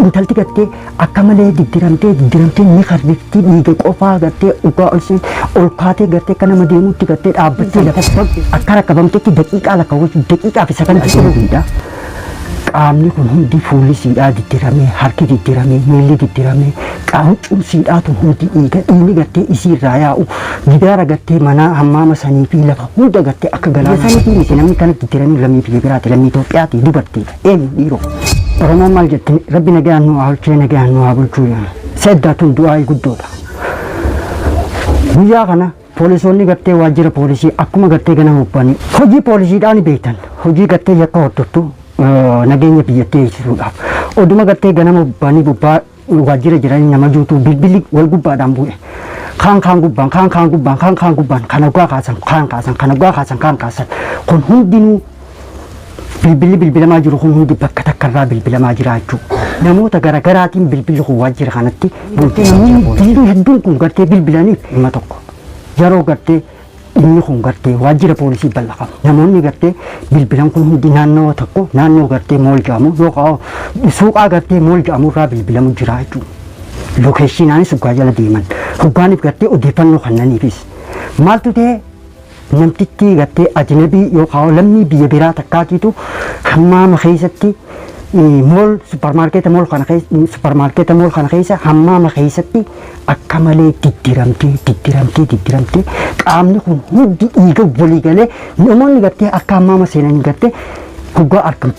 Intalti gartee akka malee diddiramtee diddiramtee ni karrifti dhiiga qofaa gartee dhugaa ol seen ol kaatee gartee akka nama deemuutti gartee dhaabbattee lafa akka rakkabamtetti daqiiqaa lakkaawwachuuf daqiiqaa fi sakandii sadiidha. Qaamni kun hundi fuulli siidhaa diddiramee harki diddiramee miilli diddiramee qaamcuun siidhaa tun hundi dhiiga dhiigni gartee isii irraa yaa'u gidaara gartee manaa hammaama sanii fi lafa hunda gartee akka galaana sanii fi miti namni kana diddiramee lammii biyya biraati lammii Itoophiyaati dubartiidha. Eenyu dhiiroo? Oromoon maal jettee rabbi nagaan nu haa olchee nagaan nu haa bulchuu jedhan. Seddaa tun du'aa'ii guddoodha. Guyyaa kana poolisoonni gartee waajjira poolisii akkuma gartee ganama uffanii hojii poolisiidhaan beektan hojii gartee yakka hordoftu eh, nageenya biyyattii eegsisuudhaaf oduma gartee ganama uffanii gubbaa waajjira jiranii nama duutuu bilbilli wal gubbaadhaan bu'e. Kaan kaan gubbaan, kaan kaan gubbaan, kaan kaan gubbaan, kan hoggaa kaasan, kaan kaasan, kan hoggaa kaasan, kaan kaasan. Kun hundinuu bilbilli bilbilamaa jiru kun hundi bakka takkarraa bilbilamaa jira jechuudha. Namoota garaagaraatiin bilbilli kun waajjira kanatti bultii namoonni diinuu hedduun kun gartee bilbilaniif dhimma tokko. Yeroo gartee Dhimmi kun gartee waajjira poolisii bal'a qaba. Namoonni gartee bilbilan kun hundi naannawa tokko naannoo gartee mool jedhamu yookaan suuqaa gartee mool jedhamu irraa bilbilamu jira jechuudha. Lokeeshinaanis hoggaa jala deeman. Hoggaaniif gartee odeeffannoo kannaniifis. Maaltu ta'e namtichi gartee ajinabii yookaan lammii biyya biraa takkaatiitu hammaama keessatti mool supparmaarkeeta mool kana keessa supparmaarkeeta mool kana keessa hammaama keessatti akka malee diddiramtee diddiramtee diddiramtee qaamni kun hundi dhiiga walii galee namoonni gartee akka ammaama seenanii gartee hoggaa argamu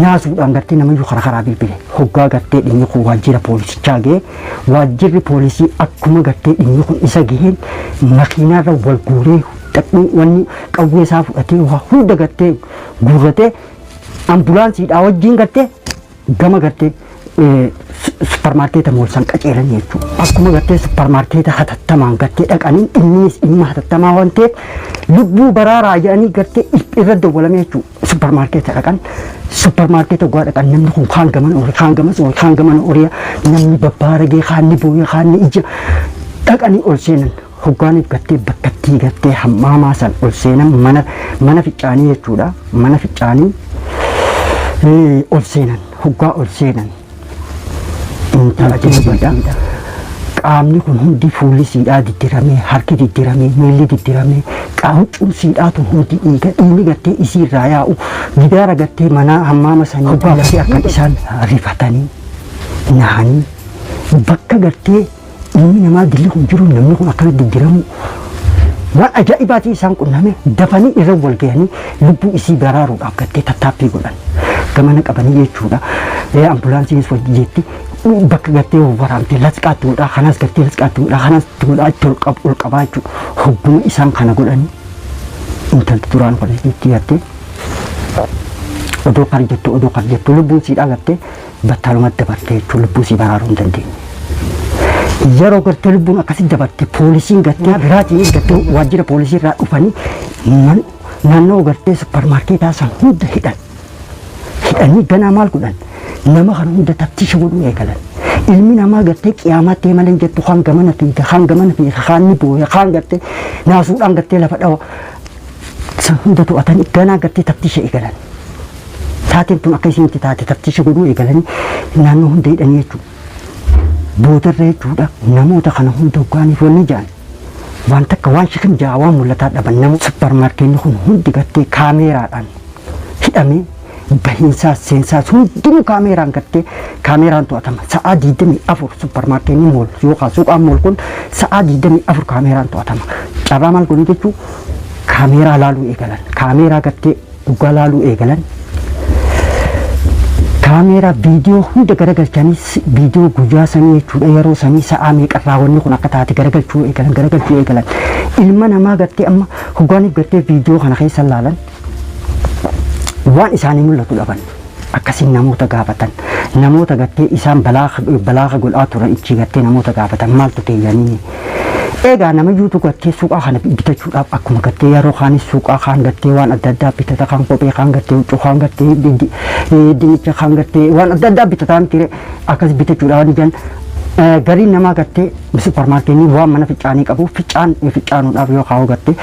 naasuudhaan gartee namayyuu karaa karaa bilbile hoggaa gartee dhimmi kun waajjira poolisichaa ga'e waajjirri poolisii akkuma gartee dhimmi kun isa ga'een makiinaarra wal guuree dadhii wanni qawwee isaa fudhatee waa hunda gartee guurratee ambulaansiidhaa wajjin gartee gama gartee supparmaarkeeta moolsan qaceelan jechuudha. Akkuma gartee supparmaarkeeta hatattamaan gartee dhaqanii innis dhimma hatattamaa waan ta'eef lubbuu baraaraa jedhanii gartee irra dawwalame jechuudha. Supparmaarkeeta dhaqan supparmaarkeeta ogaa dhaqan namni kun kaan gaman oole kaan gamas oole kaan gaman oole namni babbaaragee kaan ni booye kaan ni ija dhaqanii ol seenan Hoggaaniif gattee bakkattii gattee hammaamaa san ol seenan mana mana ficcaanii jechuudha. Mana ficcaanii eh, ol seenan hoggaa ol seenan intala jilbadha. Qaamni kun hundi fuulli siidhaa diddiramee harki diddiramee miilli diddiramee qaawwachuun siidhaa tun hundi dhiiga dhiigni gattee isii irraa yaa'u gidaara gattee manaa hammaama sanii hoggaa gattee akka isaan rifatanii nahanii bakka gartee Ilmi namaa gilli kun jiru namni kun akkana diggiramuu waan ajaa'ibaatiin isaan qunname dafanii irra wal ga'anii lubbuu isii baraaruudhaaf gattee tattaaffii godhan. Gamana qabanii jechuudha. Ee ambulaansiinis wajji jetti bakka gattee waraabdee lasqaatti godhaa kanas gattee lasqaatti godhaa kanas itti godhaa itti ol qab- ol qabaa jechuudha. Hogguma isaan kana godhanii intalti duraan kana itti gattee odoo kan jettu odoo kan jettu lubbuun siidhaa gattee battalumatti dabartee jechuun lubbuu sii baraaruu hin dandeenye. Yeroo gartee lubbuun akkasitti dabarte poolisiin gartee biraatiin gartee waajjira poolisii irraa dhufanii man- naannoo gartee supparmaarkeetaa san hunda hidhan. Hidhanii ganaa maal godhan? Nama kana hunda taftiisha godhuu eegalan. Ilmi namaa gartee qiyaamaa ta'e malee hin jettu kaan gamana fiiga kaan gamana fiiga kaan ni booya kaan gartee naasuudhaan gartee lafa dhawa. San hunda to'atanii ganaa gartee taftiisha eegalan. Taateen tun akka isiin itti taate taftiisha godhuu eegalanii naannoo hunda hidhanii jechuudha. Boodarra jechuudha namoota kana hunda hoggaaniif wanni jedhan waan takka waan shikin ja'a waan mul'ataa dhaban nama supparmaarkeenni kun hundi gartee kaameeraadhaan hidhamee bahiinsaas seensaas hundinuu kaameeraan gartee kaameeraan to'atama sa'aa 24 supparmaarkeenni mool yookaan suuqaan mool kun sa'aa 24 kaameeraan to'atama carraa maal godhee jechuu kaameeraa laaluu eegalan kaameeraa gartee dhugaa laaluu eegalan kaameeraa viidiyoo hunda garagalchanii si- viidiyoo guyyaa sanii jechuudha yeroo sanii sa'aa meeqarraa wanni kun akka taate garagalchuu eegalan garagalchuu eegalan ilma namaa gartee amma hogaaniif gartee viidiyoo kana keessa laalan waan isaanii mul'atu dhaban. akkasiin namoota gaafatan namoota gattee isaan balaaga godhaa turan ichii gattee namoota gaafatan maaltu ta'e yaniini eegaa nama yuutu gattee suuqaa kana bitachuudhaaf akkuma gattee yeroo kaanis suuqaa kaan gattee waan adda addaa bitata kaan kophee kaan gattee huccuu kaan gattee dinnicha kaan gattee waan adda addaa bitataan ture akkas bitachuudhaaf ni jan gariin namaa gattee supparmaarkeenii waan mana ficcaanii qabu ficcaan ficcaanuudhaaf yoo kaa'u gattee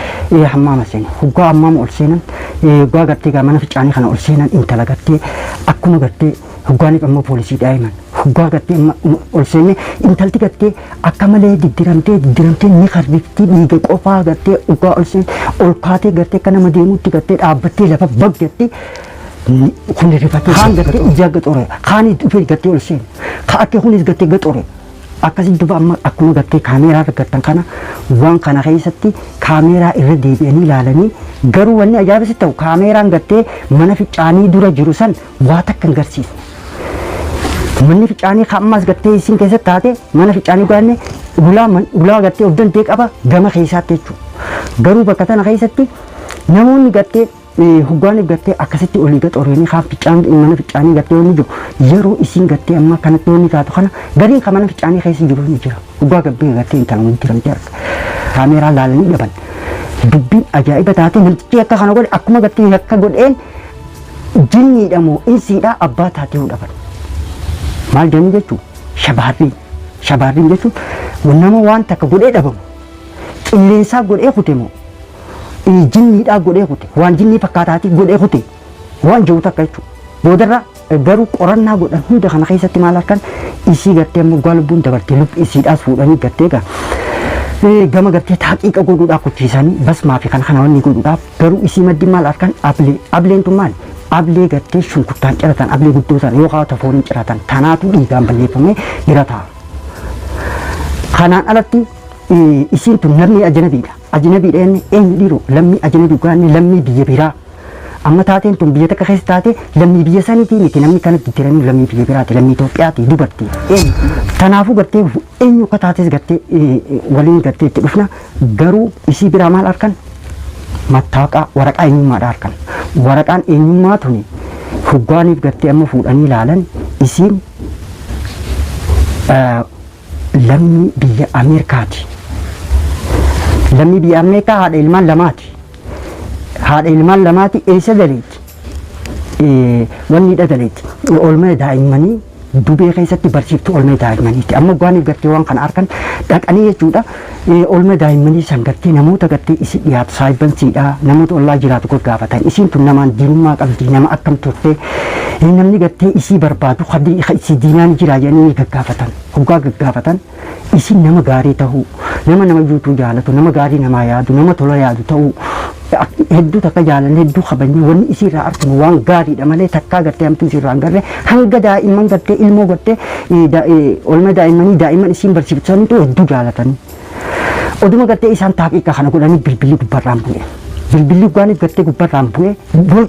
hammaama seene hoggaa hammaama ol seenan Hoggaa gartee gaa mana ficaanii kana ol seenan intala gartee akkuma gartee hoggaa ni qammoo poolisii daa'iman. Hoggaa gartee ma- ma- ol seenne intalti gartee akka malee diddiramtee diddiramtee ni karrifti dhiiga qofaa gartee hoggaa ol seen ol kaatee gartee akka nama deemuutti gartee dhaabbattee lafa bag gartee ni- kun rifatee kaan gartee ijaa gaxore kaan dhufee gartee ol seene ka akka kunis gartee gaxore Akkasitti duba amma akkuma gartee kaameeraa irra gartan kana waan kana keessatti kaameeraa irra deebi'anii ilaalanii garuu wanni ajaa'iba sitti ta'u kaameeraan gartee mana ficaanii dura jiru san waa takka hin garsiisu. Manni ficaanii kan ammaas gartee isin keessatti taate mana ficaanii gaanne ulaa man- ulaa gartee of danda'e qaba gama keessaatti jechuudha. Garuu bakka tana keessatti namoonni gartee Hoggaani gattee akkasitti olii gad oreenii kaan ficcaan mana ficcaanii gattee wanni jiru yeroo isiin gattee amma kanatti wanni taatu kana gariin kan mana ficcaanii keessa jiru ni jira. Hoggaa gabbee gattee intala wanni jiramtee arga. Kaameeraa laalanii dhaban. Dubbiin ajaa'iba taatee namtichi akka kana godhe akkuma gattee akka godheen jinniidha moo insiidha abbaa taatee dhaban. Maal jedhanii jechuun shabaarriin. Shabaarriin jechuun nama waan takka godhee dhabamu. qilleensaa godhee kute moo inni jinniidhaa godhee kute waan jinnii fakkaataatii godhee kute waan jiru takka jechuudha. Boodarra garuu qorannaa godhan hunda kana keessatti maal arkan isii gartee ammoo gaa lubbuun dabartee lubbi isiidhaas fuudhanii gartee gaa Eh, gama gartee taaqiiqa godhuudhaaf kuchiisanii basmaa fi kana kana wanni godhuudhaaf garuu isii maddi maal arkan ablee ableen tun maali ablee gartee shunkurtaan ciratan ablee guddoo sana yoo kaawwata fooniin ciratan tanaatu dhiigaan balleeffamee jira ta'a. Kanaan alatti Isiin tun lammii ajanabiidha. Ajanabiidha jenne eenyu dhiiroo lammii ajanabii dhugaa inni lammii biyya biraa. Amma taateen tun biyya takka keessa taate lammii biyya saniitii miti namni kana jijjiiranii lammii biyya biraati lammii Itoophiyaati dubartii. Eenyu? Tanaafuu gartee eenyu akka taates gartee waliin gartee itti dhufna garuu isii biraa maal arkan mattaaqaa waraqaa eenyummaadha arkan. Waraqaan eenyummaa tuni hoggaaniif gartee amma fuudhanii ilaalan isiin lammii biyya Ameerikaati. Lammii biyya Ameerikaa haadha ilmaan lamaati. Haadha ilmaan lamaati eessa daleetti? Eh, Wanni hidha daleetti. Oolmaa daa'immanii dubee keessatti barsiiftu oolmaa daa'immaniiti. Amma gaaniif garteewwan kana harkan dhaqanii jechuudha. Oolmaa daa'immanii san gartee namoota gartee isi dhiyaatu saahibbansiidha namoota ollaa jiraatu gaggaafatan isiin tun namaan diinummaa qabdi nama akkam turte namni gartee isii barbaadu ka isii diinaa ni jiraa jedhanii ni gaggaafatan hoggaa gaggaafatan isin nama gaarii tahuu nama nama yuutuu jaalatu nama gaarii namaa yaadu nama tola yaadu ta'uu Akti hedduu takka jaalanne hedduu kabajne wanni isii irraa arginu waan gaariidha malee takkaa gartee hamtuu isii irraa hin garre hanga daa'imman gartee ilmoo gartee eh, da- eh, oolmaa daa'immanii daa'imman isiin barsiiftu sanitu hedduu jaalatanii. Oduma gartee isaan taaqiiqa kana godhanii bilbilli gubbarraan bu'e. Bilbilli gubbaaniif gartee gubbarraan bu'e. Bol-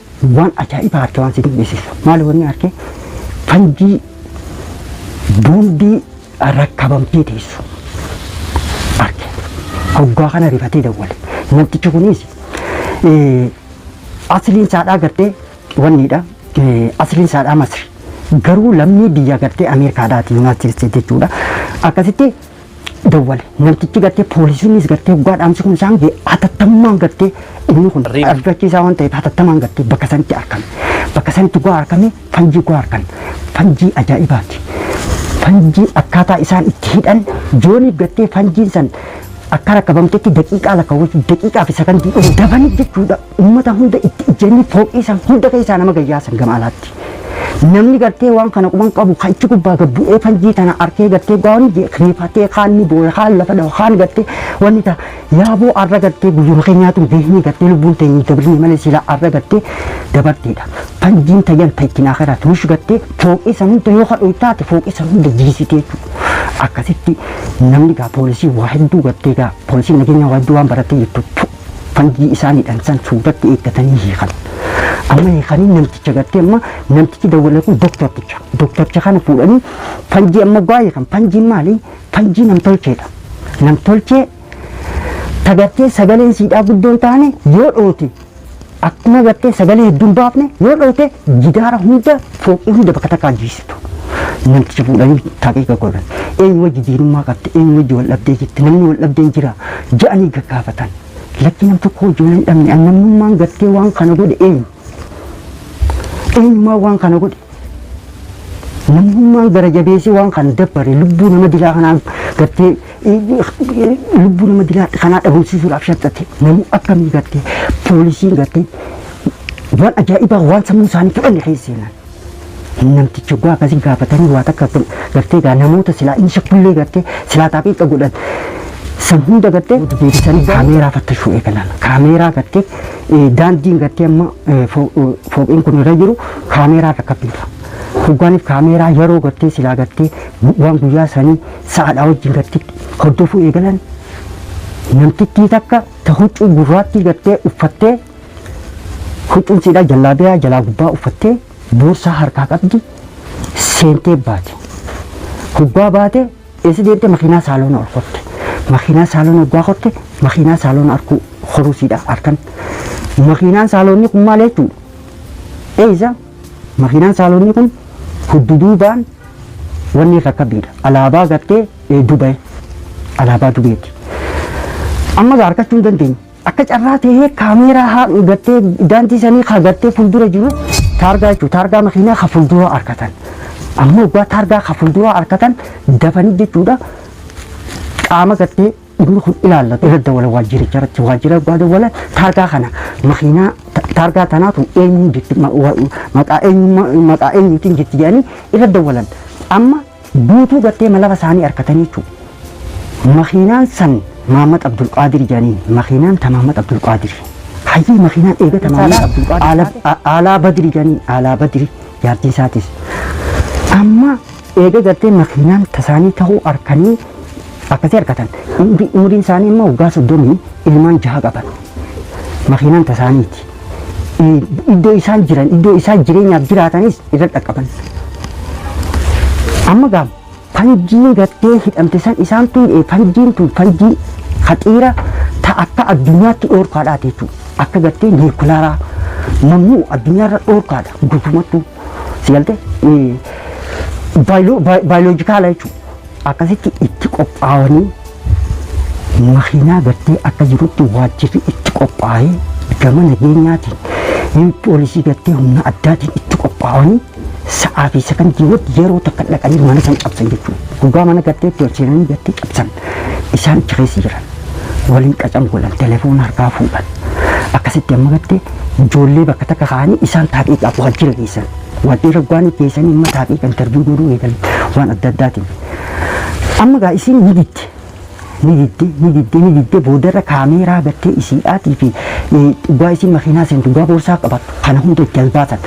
Waan ajaa'ibaa arke waan si dinqisiisu. Maali wanni arke? Fanjii boombii rakkabamtee teessu arke. Hoggaa kana rifatee dawwale. Namtichi kunis eh, asliin saadhaa gartee wanniidha. Eh, Asliin saadhaa Masri. Garuu lammii biyya gartee Ameerikaadhaati Yuunaayitid Isteet jechuudha. Akkasitti dawwale. Namtichi gartee poolisiinis gartee hoggaa dhaamsi kun isaan ga'e hatattamaan gartee inni kun Riib. argachiisaa waan ta'eef hatattamaan gartee bakka sanitti argame. Bakka sanitti hoggaa argame fanjii hoggaa argan fanjii ajaa'ibaati. Fanjii akkaataa isaan itti hidhan joonii gartee fanjiin san akka rakkabamtetti daqiiqaa lakkaawwachuuf daqiiqaa fi sakandii hin dabani jechuudha. Ummata hunda itti ijjanii fooqii san hunda keessaa nama gad yaasan gama alaatti. Namni gartee waan kana quban qabu kan ichi gubbaa gad bu'ee fanjii tana arkee gartee gaawwan riifatee kaan ni booya kaan lafa dhawa kaan gartee wanni ta yaaboo arra gartee guyyuma keenyaatu beeknii gartee lubbuun teenyi dabrine malee silaa arra gartee dabarteedha. Fanjiin tayyan ta ittiin akiraa tuush gartee fooqii san hunda yoo kadhu taate fooqii san hunda jiisitee akkasitti namni gaa poolisii waa hedduu gartee gaa poolisiin nageenyaa waa hedduu waan baratee jirtu Fangii isaan hidhan san suuratti eeggatanii hiikan. Amma hiikanii namticha gartee amma namtichi dawwalee kun doktorticha. Doktorticha kana fuudhanii fanjii amma gaa hiikan. Fanjiin maali? Fanjii namtolcheedha. Namtolchee tagartee sagaleen siidhaa guddoon taane yoo dhoote Akkuma gartee sagalee hedduun baafne yoo dhooyte jidaara hunda fooqii hunda bakka takkaa jiisitu. Namticha fuudhanii taqiiqa godhan. Eenyu wajji diinummaa qabde eenyu wajji wal dhabdee jirti namni wal dhabdeen jira ja'anii gaggaafatan. Lakki nam tokko wajji wal hin dhabne an namnummaan gartee waan kana godhe eenyu. Eenyummaa waan kana godhe. Namnummaan gara jabeessee waan kana dabbare lubbuu nama dilaa kanaan gartee lubbuu nama dilaa kanaa dhabamsiisuudhaaf shaxxate namuu akkamii gatte poolisiin gatte waan ajaa'ibaa waan sammuu isaanii fudhanne keessa seenan. Namtichi oggaa akkasii gaafatanii waa takka gartee gaa namoota silaa inni shakkullee gartee silaa taaqiiqa godhan san hunda gartee deebisanii kaameeraa fattashuu eegalan. Kaameeraa gartee daandiin gartee amma fooqiin kun irra jiru kaameeraa rakkabiidha. Hoggaaniif kaameeraa yeroo gartee silaa gartee waan guyyaa sanii sa'aadhaa wajjin irratti hordofuu eegalan namtittii takka ta huccuu gurraattii gartee uffattee huccuun siidhaa jallaabiyaa jalaa gubbaa uffattee boorsaa harkaa qabdi seentee baate. Hoggaa baate eessa deemte makiinaa saaloona ol kotte. Makiinaa saaloona hoggaa kotte makiinaa saaloona arkuu horuu siidhaa arkan. Makiinaan saaloonni kun maal jechuudha? Eessa? Makiinaan Saaloonii kun hudduduubaan wanni irra kabbiidha. Alaabaa gartee eh, Dubai. Alaabaa Dubeeti. Amma gaa harkachuu hin dandeenye. Akka carraa ta'ee kaameeraa haa gartee daandii sanii haa gartee fuuldura jiru taargaa jechuudha. Taargaa makiinaa haa fuuldura harkatan. Amma waggaa taargaa haa fuuldura harkatan dafanii jechuudha. Qaama gartee dhimmi kun ilaallatu irra dawala waajjiricha irratti waajjira abbaa dawala taargaa kana makiinaa ta- taargaa tanaatu eenyuun jirti ma- wa- maqaa eenyummaa- maqaa eenyuutiin jirti jedhanii irra dawalan amma guutuu gattee malafa isaanii harkatanii jechuudha. Makiinaan san Maamad Abdulqaadir jedhanii makiinaan ta Maamad Abdulqaadir hayyii makiinaan eegata Maamad Saalaa Abdulqaadir Abdulqaadir. Ala- a- Alaa Badiri jedhanii Alaa Badiri jaartiin isaatis amma Eega gartee makiinaan tasaanii ta'uu arkanii akkasii arkatan umri- umriin isaanii immoo waggaa soddomii ilmaan jaha qaban makiinaan tasaaniiti. Eh, Iddoo isaan jiran iddoo isaan jireenyaaf jiraatanis irra dhaqqaban. Amma gaam fanjiin gartee hidhamte san isaan tun eh, fanjiin tun fanjii haxiira ta akka addunyaatti dhoorkaadhaati jechuudha. Akka gartee niikulaaraa mamnuu addunyaarra dhoorkaadha guutumattuu. Si galte? Baayoloojikaala jechuudha. Akkasitti itti qophaa'anii makiinaa gattee akka jirutti waajjirri itti qophaa'ee gama nageenyaatiin yoo poolisii gattee humna addaatiin itti qophaa'anii sa'aa fi sekondii wad yeroo takka dhaqanii mana san cabsan jechuudha. Dhugaa mana gattee itti ol seenanii gattee cabsan isaan achi keessa jiran. waliin qacan godhan telefoona harkaa fuudhan akkasitti amma gattee ijoollee bakka takka kaa'anii isaan taaqiiqaaf waan jira geessan waan dheera waan geessanii amma taaqiiqa intarviyu godhuu eegalan waan adda addaatiin amma gaa isiin ni didde ni didde ni didde ni didde boodarra kaameeraa gattee isiidhaatii fi dhugaa isiin makiinaa seen dhugaa boorsaa qabattu kana hunda itti as baasan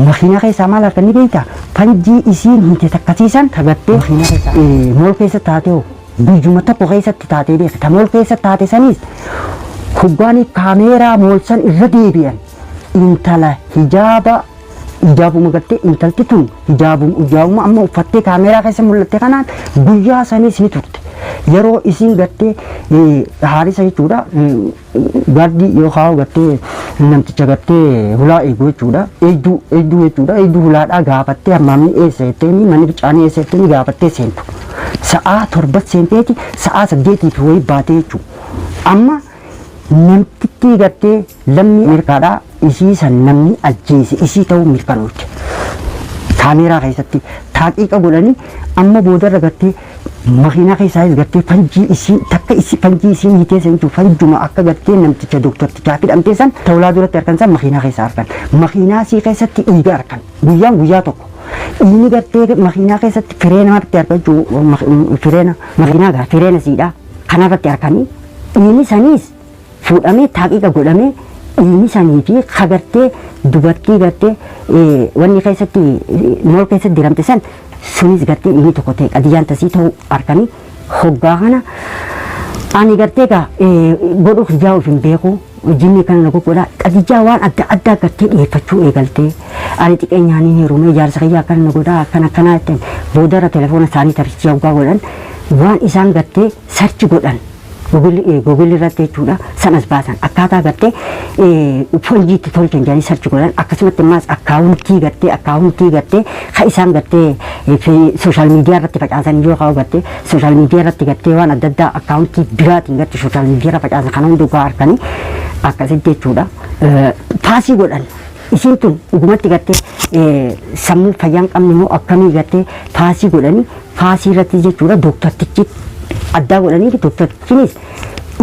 makiinaa keessaa maal harkan ni beektaa fanjii isiin hinte takkasiisan tagattee makiinaa keessaa mool keessa taatee hoo Biyyuma tokko keessatti taatee beektu. Ta mool keessa taate saniis hoggaanii kaameeraa mool san irra deebi'an intala hijaaba hijaabuma gartee intalti tun hijaabuma hijaabuma amma uffattee kaameeraa keessa mul'atte kanaan guyyaa saniis ni turte. Yeroo isiin gartee eh, haarisa jechuudha. mm, Gaardii yoo kaa'u gartee namticha gartee hulaa eegu jechuudha. Eegduu eegduu jechuudha. Eegduu hulaadhaa gaafattee hammaamni eessa jetteeni manni bichaanii eessa jetteeni gaafattee seentu. Sa'aa torba seenteeti sa'aa saddeetii fi wayii baatee jechuudha. Amma namtittii gartee lammii Ameerikaadhaa isii san namni ajjeese isii ta'uu mirkanoofte. Kaameeraa keessatti taaqiiqa godhanii amma boodarra gartee Makiinaa keessaayis gartee fanjii isiin takka isi fanjii isiin hitee seentu fanjuma akka gartee namticha doktortichaa fidhamtee san tawlaa duratti arkan san makiinaa keessa arkan. Makiinaa sii keessatti dhiiga arkan. Guyyaan guyyaa tokko. Dhiini gartee makiinaa keessatti fireena marti arkan jechuu fireena makiinaa gaa fireena siidhaa kanarratti arkanii dhiini saniis fuudhamee taaqiiqa godhamee dhiigni sanii fi ka gartee dubartii gartee wanni keessatti mool keessatti diramte san sunis gartee inni tokko ta'e qadiyyaan tasii ta'uu arkanii hoggaa kana ani gartee gaa godhuu kiyyaa of hin beeku jinni kana na goggodha qadiyyaa waan adda addaa gartee dhiyeeffachuu eegaltee ani xiqeenyaan hin heerumee jaarsa kiyyaa akkana na godhaa akkana akkanaa jettan boodarra telefoona isaanii tarsiisaa hoggaa godhan waan isaan gartee sarchi godhan Google irratti jechuudha san as baasan akkaataa gartee fonjii itti tolchan jedhanii sarchi godhan akkasumatti ammaas akkaawuntii gartee akkaawuntii gartee ka isaan gartee sooshaal miidiyaa irratti facaasan yoo kaa'u gartee sooshaal miidiyaa irratti gartee waan adda addaa akkaawuntii biraatiin gartee sooshaal miidiyaa irra facaasan kana hundi ogaa harkanii akkasitti jechuudha paasii godhan Isiin tun dhugumatti gartee sammuu fayyaa hin qabne moo akkamii gartee faasii godhanii faasii irratti jechuudha dooktartichi addaa godhanii dooktartichinis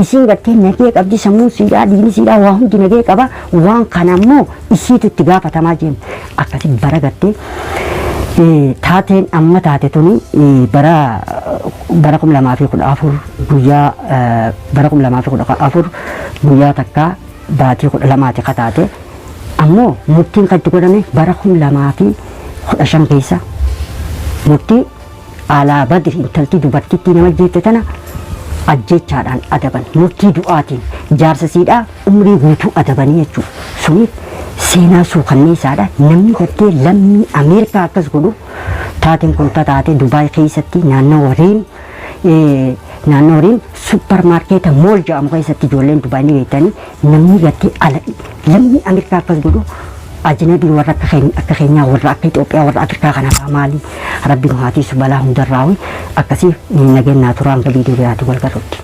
isiin gartee nagee qabdi sammuu siidhaa diini siidhaa waa hundi nagee qaba waan kana ammoo isiitu itti gaafatamaa jenna akkasi bara gartee taateen amma taate tuni bara bara kum lamaa fi kudha afur guyyaa bara kum lamaa fi kudha afur guyyaa takkaa baatii kudha lamaati kataate Ammoo murtiin kan itti godhame bara 2015 keessa murtii Aalaa Badri intaltii dubartittii nama ajjeefte tana ajjeechaadhaan adaban. Murtii du'aatiin jaarsa siidhaa umrii guutuu adabanii jechuu. Suni seenaa suukanneessaadha. Namni gartee lammii Ameerikaa akkas godhu taateen kun tataate Dubaay keessatti naannawa Riim naannoo horiin supparmaarkeeta mool jedhamu keessatti ijoolleen Dubaay ni beektanii namni gattee ala lammii Ameerikaa akkas godhu ajinabii warra akka keenya akka keenyaa warra akka Itoophiyaa warra Afrikaa kanarraa maali rabbi nu haatiisu balaa hundarraa akkasii nageenyaa turaan viidiyoo biraatiin wal garruutti.